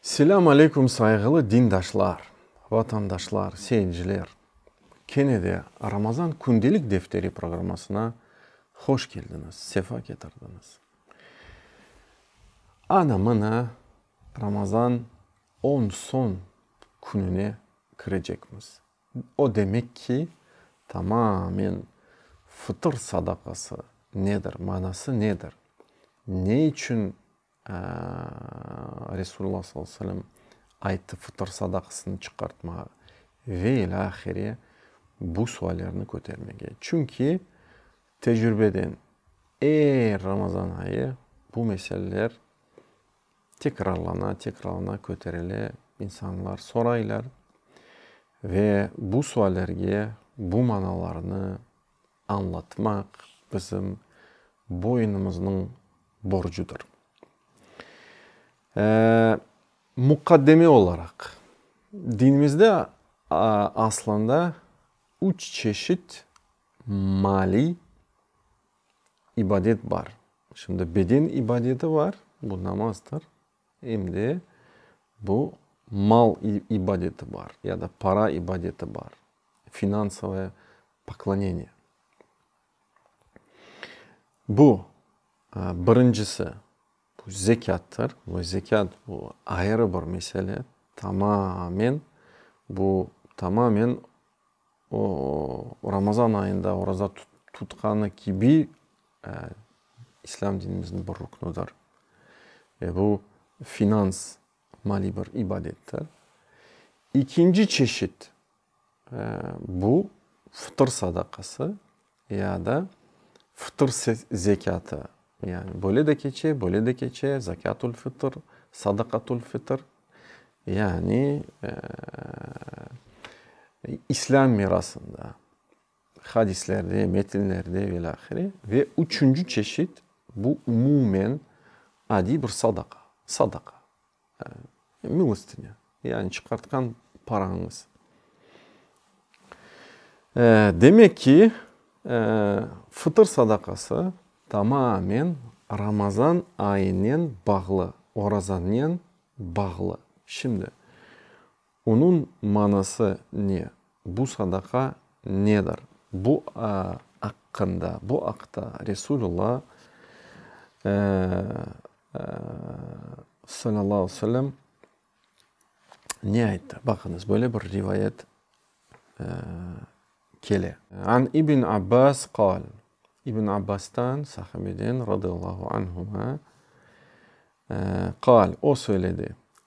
Selâm aleyküm sayğılı dindaşlar, vatandaşlar, seyirciler. Kene de Ramazan kündelik defteri programmasına hoş keldiñiz, sefa ketirdiñiz. Ana, mına Ramazan on soñ kününe kirecekmiz. O demek ki, tamamen fıtır sadaqası nedir, manası nedir, ne içün Resulullah sallallahu aleyhi ve sellem ayttı, fıtır sadaqasını çıqartmağa ve ilâ ahire bu suallerni kötermege. Çünki tecrübeden er Ramazan ayı bu meseleler tekrarlana, tekrarlana köterile, insanlar soraylar ve bu suallerge bu manalarnı, añlatmaq bizim boynumıznıñ borcudır. Muqaddeme olaraq, dinimizde aslında üç çeşit maliy ibadet bar. Şimdi beden ibadeti bar, bu namazdır, Em de bu mal ibadeti bar, ya da para ibadeti bar, finansovoye pokloneniye. Bu, birincisi, bu zekâttır. Bu zekât, bu ayrı bir mesele, tamamen, bu tamamen o Ramazan ayında oraza tutqanı kibi, İslâm dinimizniñ bir ruknudır. Ve bu finans, maliy bir ibadettir. İkinci çeşit, bu fıtır sadaqası ya da fıtır zekâtı. Yani böyle de keçe, böyle de keçe, zekâtul fıtır, sadakatul fıtır. Yani İslâm mirasında. Hadislerde, metinlerde ve ilâhre. Ve üçünci çeşit, bu umumen adiy bir sadaqa, sadaqa, milostinâ, yani çıqartqan parañız. Demek ki, fıtır sadaqası tamamen Ramazan ayınen bağlı, orazanen bağlı. Şimdi. Onıñ manası ne? Bu sadaqa nedir? Bu aqqında, bu aqta Resulullo salâllahu aleyh ve sellem ne ayttı? Baqıñız, böyle bir rivayet kele. An İbn Abbâs qâl, İbn Abbastan, sahabeden, radiyallahu anhuma, qâl, o söyledi,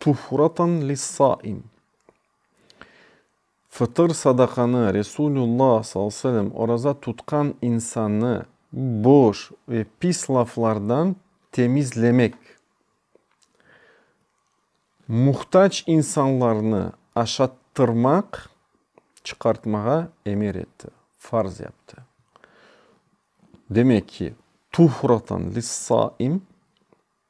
Tuhureten lis-saim, Fıtır sadaqanı, Resulullah sallallahu aleyhi ve sellem, oraza tutqan insannı boş ve pis laflardan temizlemek, muhtac insanlarnı aşattırmaq, çıqartmağa emir etti, farz yaptı. Demek ki, Tuhureten lis-saim.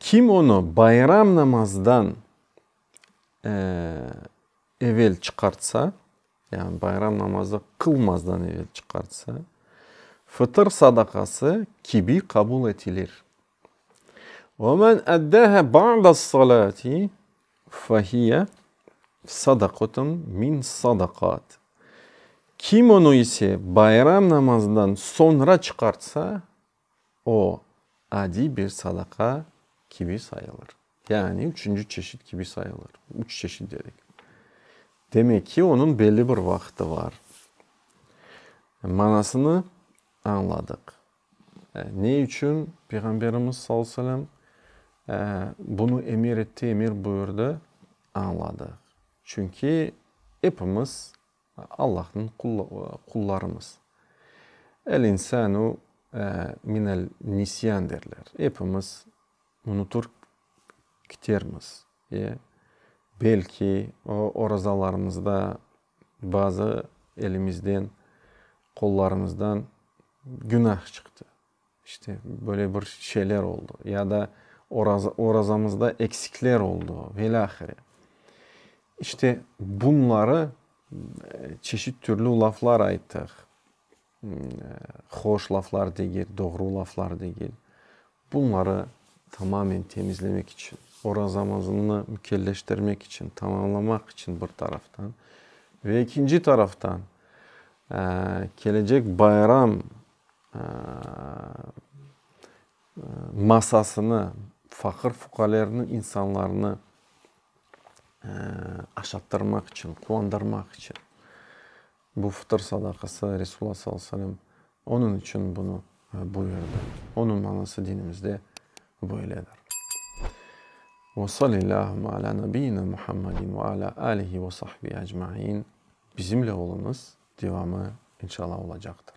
Kim onı bayram namazdan evel çıqartsa, yani bayram namazı qılmazdan evel çıqartsa, fıtır sadaqası kibi qabul etilir. Ve men eddâhâ ba'dâs-salâti, Fahiye, sadaqatım min sadaqat. Kim onı ise bayram namazından soñra çıqartsa, o, adiy bir sadaqa kibi sayılır. Yani üçünci çeşit kibi sayılır. Üç çeşit dedik. Demek ki, onıñ belli bir vaqıtı bar. Manasını añladıq. Ne içün Peyğamberimiz sallallahu aleyhi ve sellem bunı emir etti, emir buyurdı, añladıq. Çünki epimiz Allahnıñ qullarımız. El insanu minel nisyan derler. Epimiz unutur kitermiz. Belki orazalarımızda bazı elimizden, qollarımızdan Günah çıqtı, işte, böyle bir şeyler oldı, ya da orazamızda eksikler oldu, velâhire. İşte, bunları çeşit türlü laflar ayttıq, hoş laflar degil, doğru laflar degil. Bunları tamamen temizlemek içün, orazamızını mükelleştirmek içün, tamamlamaq içün bir taraftan, ve ekinci taraftan, kelecek bayram masasını, faqır-fuqalerniñ insanlarını aşattırmaq içün, quvandırmaq içün. Bu fıtır sadaqası, Resulullah sallallahu aleyhi ve sellem onıñ içün bunı buyurdı. Onıñ manası dinimizde böyledir. Ve salillâhümme alâ nabiyyina Muhammedin ve alâ âlihi ve sahbihi ecmaîn Bizimle oluñız devamı inşallah olacaqtır.